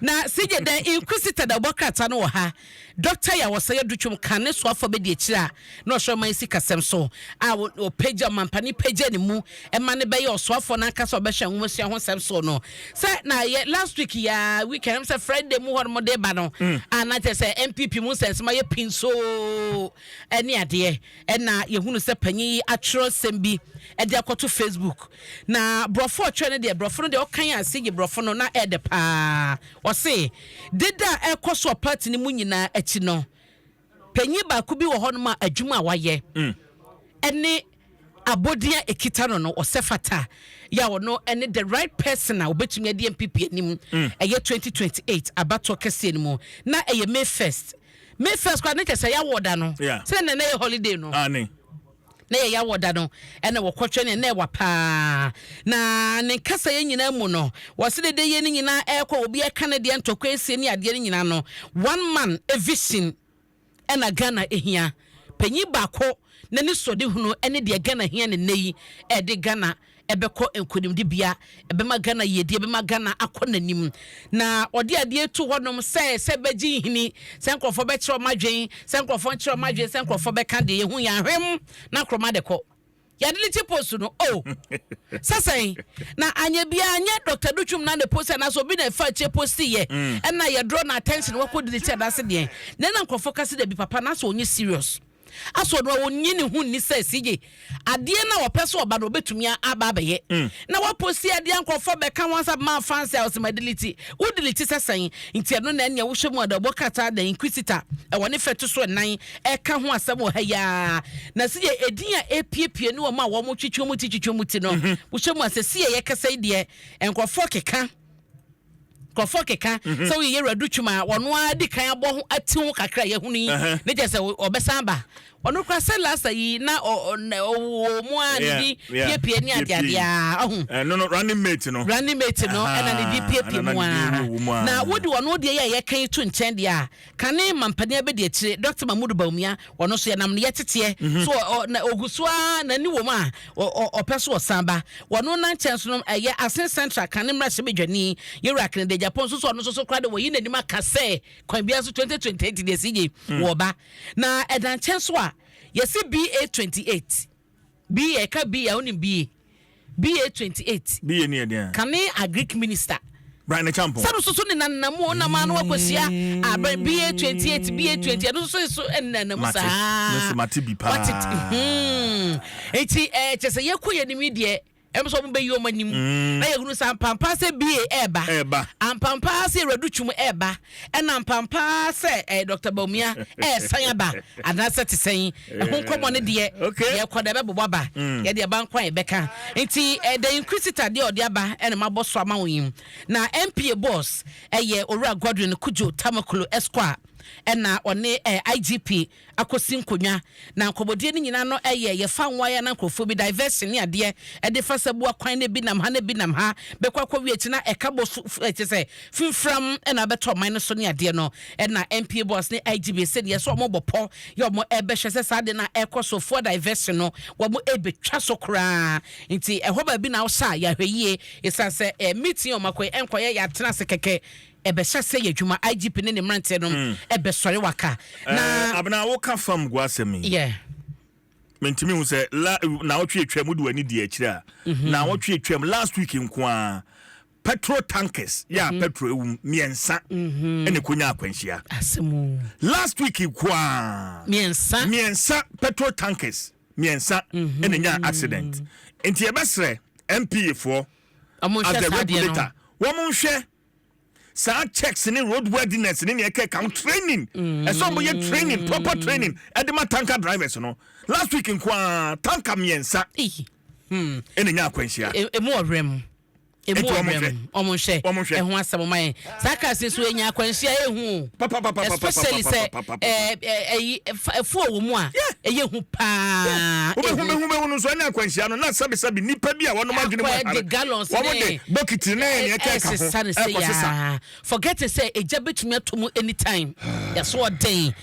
Na Sigye the Inquisitor na ɔbɔ krataa no wɔ ha. Dɔkta yi a wɔsɛe adu twom ka ne soafo a bedi akyiri a na ɔhwɛ ɔman sikasɛm so a ɔpagya ɔmampani pagya ne mu ma no bɛyɛ ɔsoafoɔ no ankasa a ɔbɛhwɛ nwomasua ho nsɛm so no sɛ na yɛ last week yi a weekend ɛm sɛ Friday mu hɔnom de ba no a na kyerɛ sɛ NPP mu nsɛnsɛm ayɛ pinsoo ne adeɛ Ɛna yɛhunu sɛ panyin yi atwerɛ nsɛm bi de akɔto Facebook. Na borɔfo a ɔtwerɛ no deɛ, borɔfo no deɛ ɔkan a sigye borɔfo no na ɛɛdɛ paa. Ɔse, Deda a ɛrekɔ so wɔ party no mu nyinaa akyi no, panyin baako bi wɔ hɔnom a adwuma a wayɛ ɛne abɔdin a ɛkita no no, ɔsɛ fata yɛ a ɔno ɛne the right person a ɔbɛtumi adi NPP anim ɛyɛ 2028 abatoɔ kɛseɛ no mu. Na ɛyɛ May 1st. Me first kora ne kyɛ sɛ yɛawɔ da no sɛ nɛ na yɛ holiday no na yɛ yɛawɔ da no ɛna wɔkɔtwɛ ne na ɛwa paa na ne nkasa yɛ nyinaa mu no wɔse dede yɛ ne nyinaa ɛkɔ obi ɛka ne deɛ ntɔkwa ɛsie ne adeɛ no nyinaa no one man vision ɛna Ghana ɛhia panyin baako na ne sɔde hunu ɛne deɛ Ghana hia ne nɛ yi ɛde Ghana ɛbɛkɔ nkonimdibea, ɛbɛma Ghana yiedie, ɛbɛma Ghana akɔ n'anim. Na ɔde adeɛ retu hɔnom sɛ sɛ ɛbɛgye nhini, sɛ nkurɔfoɔ bɛkyerɛ wɔn adwene, sɛ nkurɔfoɔ nkyerɛ wɔn adwene, sɛ nkurɔfoɔ bɛka deɛ yɛhu yɛn ahwem na Nkrumah de kɔ. Yɛadelete post no o! Sɛ sɛn? Na anyɛ biara anyɛ Dɔkta Dutwum na ne post anaasɛ obi na ɛfa akyire postiiɛ, ɛnna yɛdrɔ no attention wakɔdelete anaasɛ deɛn. Na ɛnna nkurɔfoɔ ka sɛ dabi papa no asɛ ɔnyɛ serious. Aso ɔno a ɔnyi ne ho nni sɛ CJ adeɛ no a ɔpɛ sɛ ɔba no ɔbɛtumi aba abɛyɛ mm. na waposi adeɛ a nkurɔfoɔ bɛka ho asɛm maa fans a ɔsɛ ma delete wo delete sɛ sɛn nti ɛno na ɛneɛ wohyɛ mu ɔdɔbɔ krataa da inquisitor ɛwɔ ne fɛ to so ɛnan ɛka ho asɛm wɔ ha yaa na CJ ɛdin a ɛpiepie ne wɔn a wɔn twitwa mu ti twitwa mu ti no mhm. wohyɛ mu asɛ CJ yɛkasa yi deɛ nkurɔfoɔ keka Nkurɔfoɔ keka sɛ woyɛ Yɛwura Duchum a wɔno ara di kan abɔ ho ati ho kakra a yɛahunu yi ne kyerɛ sɛ ɔbɛsan aba. Ɔno koraa sɛ Lasta yi na ɔwɔ mu ara ne di piepie ne adeade ara ɔho. Ɛno no running mate no. Running mate no na ne di piepie mu ara. Na wode ɔno deɛ yi a yɛka yi to nkyɛn deɛ a. Kane mampanin abadiakyire Doctor Mahmood Bawumia ɔno nso yɛnam ne yɛteteɛ mhm. so ɔgu so ara n'ani wɔ mu a ɔpɛ so ɔsan ba wɔno na nkyɛn so no ɛyɛ Asen Central Kane mmarahyɛ badwani yɛwura Kennedy Agyapong nso so ɔno nso so koraa de wɔyi n'anim aka sɛ kwan biara so 2028 deɛ ɛsi gye mm. wɔba na ɛda nkyɛn so a yɛsi BA 28 Bi yɛ ka bi a wonim bi ye bi ye twenty eight. Bi ye ne yɛ den a. Kane agric minister. Brian Acheampong. Sɛ no soso ne nanna mu ɔnam ano akɔsia abɛn bi ye twenty eight bi ye twenty ɛno soso so ɛnana mu saa. Mate mate bi paa. Wate hmm eti ɛɛ kyɛ sɛ yɛkɔ yɛ nim yi deɛ. Ɛm sɛ ɔmo bɛyi ɔmo anim. Na yɛhunu sɛ ampampaa sɛ BA ɛɛba. Ɛɛba. Ampampaa sɛ Awuradu Twum ɛɛba. Ɛna ampampaa sɛ ɛɛ Dɔkta Bawumia ɛɛsan aba. Anaasɛ te sɛn. Ɛho nkɔmɔ no deɛ. Okay. Deɛ ɛkɔ deɛ ɛbɛbobɔ aba. Deɛ deɛ ɛba nko a yɛbɛka. Nti ɛɛ The Inquisitor deɛ ɔde aba ɛna mabɔ so ama wo yi. Na MPA Boss ɛyɛ Owura Godwin Kudjo Tamaklo Esquire. Ɛna ɔne ɛɛ IGP. akɔsi nkonnwa na nkɔmmɔdie no nyinaa no yɛ yɛfa nwaeɛ na nkurɔfoɔ bi diversion ne adeɛ ɛde fa sɛ boa kwan na bi nam ha na bi nam ha bɛkɔ akɔwie akyi na ɛka bɔ so ɛkyɛ sɛ fimfiram ɛna abɛtɔ ɔman no so ne adeɛ no ɛna MPA boss ne IGB sɛ deɛ sɛ wɔn bɔ pɔ yɛ wɔn ɛbɛhwɛ sɛ saa de na ɛkɔ so foɔ diversion no wɔn ɛbɛtwa so koraa nti ɛhɔ baabi na ɔsa yɛahwɛ yie ɛsan sɛ meeting wɔn akɔ ɛnkɔyɛ yɛatena ase kɛkɛ Ɛbɛhyɛ sɛ yɛ adwuma IGP ne ne mmeranteɛ nom ɛbɛsɔre waka na. Ɛɛ Abena wo ka fam gu asɛm yi. Yeah. Mentumi hu sɛ la naawɔtwe atwam wode w'ani di akyire a mhm. naawɔtwe atwam last week nko ara petrol tankers yɛ a mhm. petrol ewum mmiɛnsa mhm. ɛna ekonya akwanhyia. Asɛmu. Last week nko ara mmiɛnsa mmiɛnsa petrol tankers mmiɛnsa ɛna nya accident nti ɛbɛsrɛ MPA foɔ as the regulator wɔn nhwɛ. saa checks ne road worthiness ne nea ɛkɛka ho training ɛsɛ ɔmo yɛ training proper mm. training ɛde ma tanker drivers no last week nko ara tanker mmiɛnsa hmm. ɛna nya akwanhyia. E, emu ɔhwɛ mu emu ɔhwɛ mu ɔmo nhwɛ ɛho asɛm ɔmo ayɛ saa cars nso enya akwanhyia ehu. especially sɛ ɛyi ɛfu a wɔn a ɛyɛ hu paa. wobɛhu bɛhu bɛhu no nso ɛne akwanhyia no na sɛbisɛbi nipa bi a wɔnom adwene mu ahare wɔn de bokiti ne ɛne ɛka ɛka ho ɛkɔ sesa. forget sɛ egya bɛtumi ato mu anytime yɛso ɔden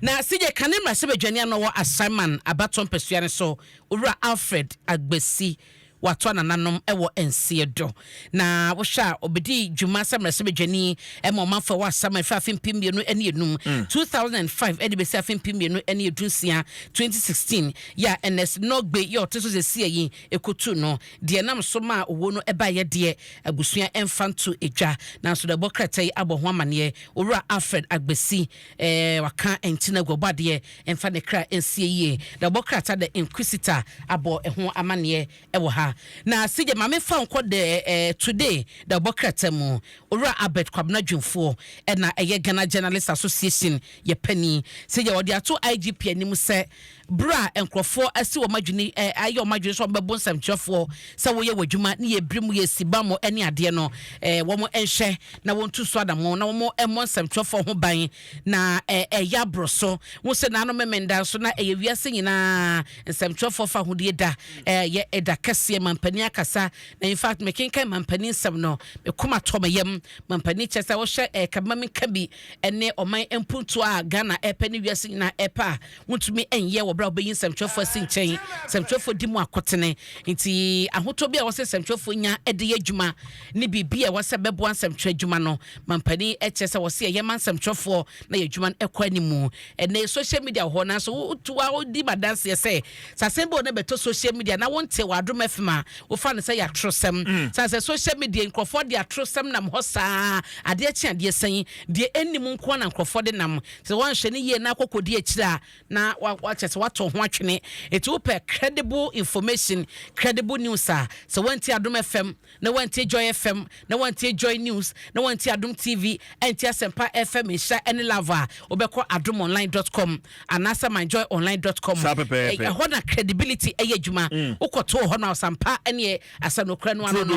na sɛdeɛ ka ne mmarahyɛ badwani ano wɔ asaman abatɔ mpɛsua no so owura alfred agbasi wɔato anananom wɔ nseɛ do. Na wohwɛ a, ɔbɛdii dwuma sɛ mmarahyɛbadwani ma ɔmanfoɔ wɔ Asram a ɛfiri afe mpem mmienu ne enum, mm. 2005, de bɛsi afe mpem mmienu ne edunsia, 2016, yɛ a Ernest Norgbe yɛ ɔte so sesia yi ɛkɔtu no. Deɛ nam so maa owuo no baeɛ deɛ, abusua ɛmfa nto dwa. Nanso na ɛbɔ krataa yi abɔ ho amaneɛ. Owura Alfred Agbesi Eh, waka nti na aguabɔ adeɛ mfa ne kra nsie yie. Na ɔbɔ krataa The Inquisitor abɔ ɛho amaneɛ ɛwɔ ha. Na CJ ma me fa wo nkɔ The eh, Today na ɔbɔ krataa mu. Owura Albert Kwabena Dwumfoɔ ɛna ɛyɛ Ghana Journalist Association yɛ panin. CJ wɔde ato IGP anim sɛ Bere a nkurɔfoɔ asi wɔn adwene ɛ, ayɛ wɔn adwene sɛ wɔbɛbo nsɛmtwerɛfoɔ sɛ wɔyɛ wɔn adwuma ne yɛbiri mu yɛsi bammɔ ne adeɛ no ɛ, wɔn nhwɛ na wɔntu so anammɔn na wɔn mmɔ nsɛmtwerɛfoɔ ho ban na ɛ, ɛyɛ aboro so. Wohu sɛ naanom Memenda nso na ɛyɛ wiase nyinaa nsɛmtwerɛfoɔ fahodie da ɛ, yɛ ɛda kɛseɛ. Mampanin akasa na in fact mekenkan Mampanin nsɛm no me koma tɔ me yam. Mampanin kyerɛ sɛ wohwɛ ɛ, ka ma menka bi ɛne ɔman mpuntuo a Ghana ɛrepɛ ne wiase nyinaa ɛrepɛ a, wontumi nyɛ wɔ bere a wobɛyi nsɛmtwerɛfoɔ asi nkyɛn nsɛmtwerɛfoɔ di mu akotene nti ahotɔ bi a wɔsɛ nsɛmtwerɛfoɔ nya de yɛ adwuma ne biribi a wɔsɛ bɛboa nsɛmtwerɛ adwuma no mampanin kyɛ sɛ wɔsɛ yɛyɛ ma nsɛmtwerɛfoɔ na yɛ adwuma no kɔ animu ɛnɛ social media wɔ hɔ nanso wotoa wodi ma danseɛ sɛ sɛ asɛm bi wɔ no bɛtɔ social media na wonte wɔ adom afim a wofa no sɛ yɛ atorosɛm mm. sane sɛ social media nkurɔfoɔ de atorosɛm nam hɔ saa adeɛ kye adeɛ sɛn deɛ ɛnnim nkoa na nkurɔfoɔ de nam Sɛ woanhwɛ no yie na akɔkɔdi akyire a, na wakyɛ sɛ woato ho atwene. Enti wopɛ credible information, credible news a, sɛ woantie Adom FM, na woantie Joy FM, na woantie Joy News, na woantie Adom TV, antie Asɛmpa FM, Nhyira ne Love a, wobɛkɔ adomonline dot com anaasɛ myjoyonline dot com. Ɛhɔ na credibility yɛ adwuma. Mm. Wokɔto hɔ no a, ɔsampa ɛneɛ asɛ nokorɛ no ano no,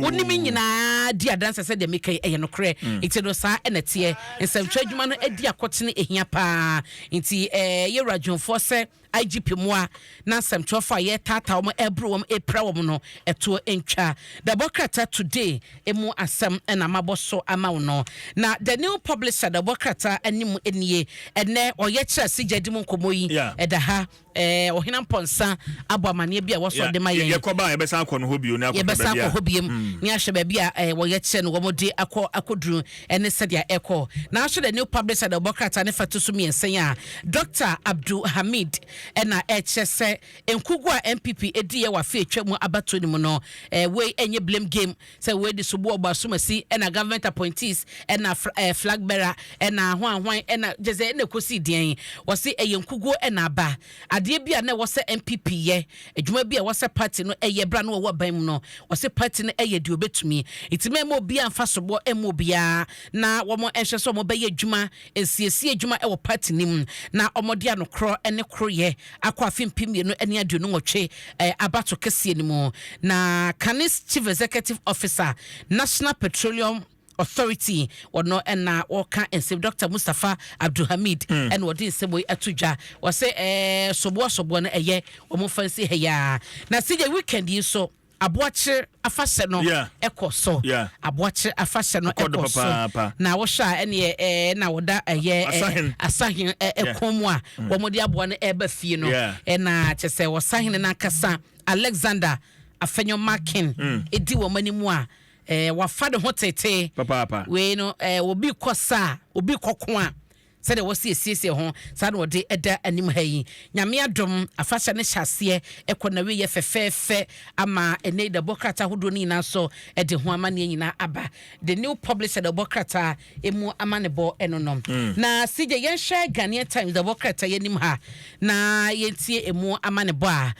wo ne me nyinaa di adanse sɛ deɛ meka yi ɛyɛ nokorɛ. Mm. Nti no saa ɛna teɛ. Nsɛmtwerɛ adwuma no adi akɔtene ɛhia paa. Nti ɛɛ eh, yɛwura dwomfoɔ sɛ IGP mmoa na nsɛmtwerɛfoɔ a yɛretaataa wɔn ɛreboro wɔn ɛrepira wɔn no ɛtoɔ ntwa. Dɛbɔ krataa today ɛmu asɛm ɛna mabɔ so ama wo no. Na the new publisher dɛbɔ krataa anim nie ɛnɛ ɔyɛ kyerɛ asigya di mu nkɔmmɔ yi ɛda ha Ɛɛ Ɔhena Mpɔnsa abɔ amaneɛ bi a wɔsɔ Yeah, de ma yɛ- yɛn. yɛkɔ ba a, yɛbɛsan akɔ no hɔ bio ne akɔhwɛ Yɛbɛsan baabi akɔ a. hɔ biom ne ahwɛ baabi a ɛɛ wɔyɛ kyerɛ no wɔn de akɔ akɔduru ɛne sɛdeɛ ɛkɔ. Nanso The New Public Side ɛbɔ krataa ne fa to so mmiɛnsa yi a Dɔkta Abdul Hamid ɛna ɛkyerɛ sɛ nkugu a NPP ɛdiiɛ wɔ afe a atwa mu abatoɔ no mu no ɛɛ wei ɛnyɛ blame game Sɛ wei de sobu ɔbɔ asumasi ɛna government appointees ɛna ɛɛ flag bearer ɛna hwan hwan ɛna gyesɛ ɛna ɛkɔsi deɛn? Wɔse ɛyɛ nkuguo ɛna aba. Adeɛ bi a na ɛwɔ sɛ NPP yɛ, adwuma bi a ɛwɔ sɛ party no ɛyɛ berɛ a na wɔwɔ aban mu no, wɔse party no ɛyɛ deɛ ɔbɛtumi. Nti mɛmma obiara mfa soboɔ mma obiara na wɔn nhwɛ sɛ wɔbɛyɛ adwuma Nsiesie adwuma wɔ party no mu na wɔde anokorɔ ne koroyɛ akɔ afe mpem mmienu ne aduonu nwɔtwe abato kɛseɛ no mu, na Kane's Chief Executive Officer, National Petroleum Authority, wɔno na wɔka nsɛm yi. Doctor Mustapha Abdulhamid na ɔde nsɛm wei ato dwa. Ɔse ɛɛ soboɔ soboɔ no ɛyɛ wɔn mfa nsi ha yi ara. Na CJ weekend yi nso. Aboakyer afahyɛ no kɔ so. Aboakyer afahyɛ no kɔ so. Na wohwɛ a ɛneɛ ɛɛ na wɔda ɛyɛ Asahen kɔn mu a wɔde aboa no ɛreba fie no. Na kyerɛ sɛ Ɔsahene no ankasa Alexander Afenyo Makin di wɔn anim a ɛɛ wafa ne ho tetee. Wei no ɛɛ obi kɔ sa a obi kɔko a Sɛdeɛ wɔsi asiesie ho, saa na wɔde da anim ha yi. Nyame adom, afahyɛ no hyɛ aseɛ kɔ n'awieɛ fɛfɛɛfɛ ama ɛnnɛ yi de ɛbɔ krataa ahodoɔ no nyinaa so de ho amanneɛ nyinaa aba. The New Publisher de ɛbɔ krataa ɛmu amanebɔ no no. Na CJ, yɛnhwɛ Ghanaian Times de ɛbɔ krataa yi anim ha na yɛntie ɛmu amanebɔ a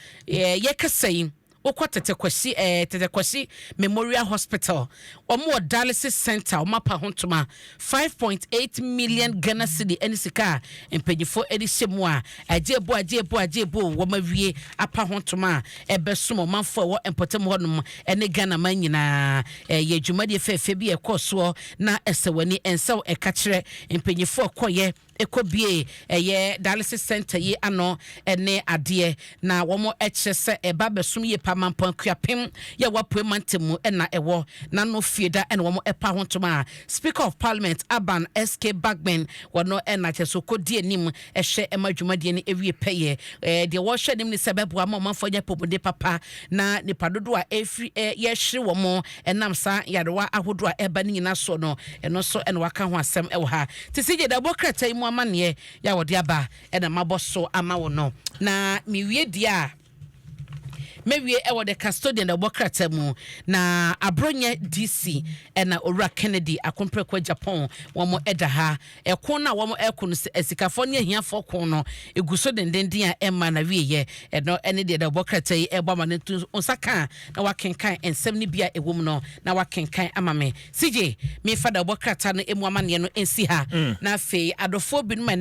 yɛkasa yi. Wokɔ Tete Kwasi eh, Tete Kwasi Memorial Hospital, wɔn wɔ Dialysis Centre, wɔn apa ho ntoma five point eight million Ghana cedi ɛne sika a mpanyinfoɔ ɛde hyɛ mu a agye ebo agye ebo agye ebo wɔn awie apa ho ntoma a ɛbɛsom ɔmanfoɔ a ɛwɔ mpɔtam hɔ nom ɛne Ghana man nyinaa ɛyɛ dwumadie fɛɛfɛ bi a ɛkɔɔ soɔ na ɛsɛ w'ani ɛnsɛw ɛka kyerɛ mpanyinfoɔ a ɛkɔɔyɛ kɔ bue ɛyɛ dialysis centre yi ano ne adeɛ na wɔn kyerɛ sɛ ɛba abɛsom yie paa Mampong Akuapem yɛ wɔ Apuei Mantam mu na ɛwɔ na no fie da na wɔn ɛpa ho ntom a Speaker of Parliament Aban SK Bagbin wɔ no na kyerɛ sɛ ɔkɔ di anim ɛhwɛ ɛma dwumadie no ɛwie pɛyɛ ɛɛ deɛ wɔhwɛ anim ne sɛ ɛbɛboa ma ɔmanfoɔ anya apɔmuden papa na nipa dodoɔ a ɛfiri ɛɛ yɛhwere wɔn Ɛnam saa nyarewa ahodoɔ a ɛreba no nyinaa soɔ no, ɛno nso na wɔaka ho asɛm wɔ ha. Te sɛ deɛ dawubɔ krataa yi mu amanneɛ yɛ a wɔde aba na mabɔ so ama wo no, na mewie deɛ a mɛwie wɔ The Custodian dawubɔ krataa mu, na Aborɔnyɛ DC na Owura Kennedy Akompreko Agyapong wɔn da ha. Ɛko no a wɔko no sɛ asikafɔɔ ne ahiafɔɔ ko no gu so dendenden a ɛmmaa no awieɛ. Ɛno ne deɛ dawubɔ krataa yi rebɔ amane. To nsa ka na woakenkan nsɛm no bi a ɛwɔ mu no na woakenkan ama me. CJ, memfa dawubɔ krataa no mu amanneɛ no nsi ha. Na afei adɔfoɔ binom a ɛnnɛ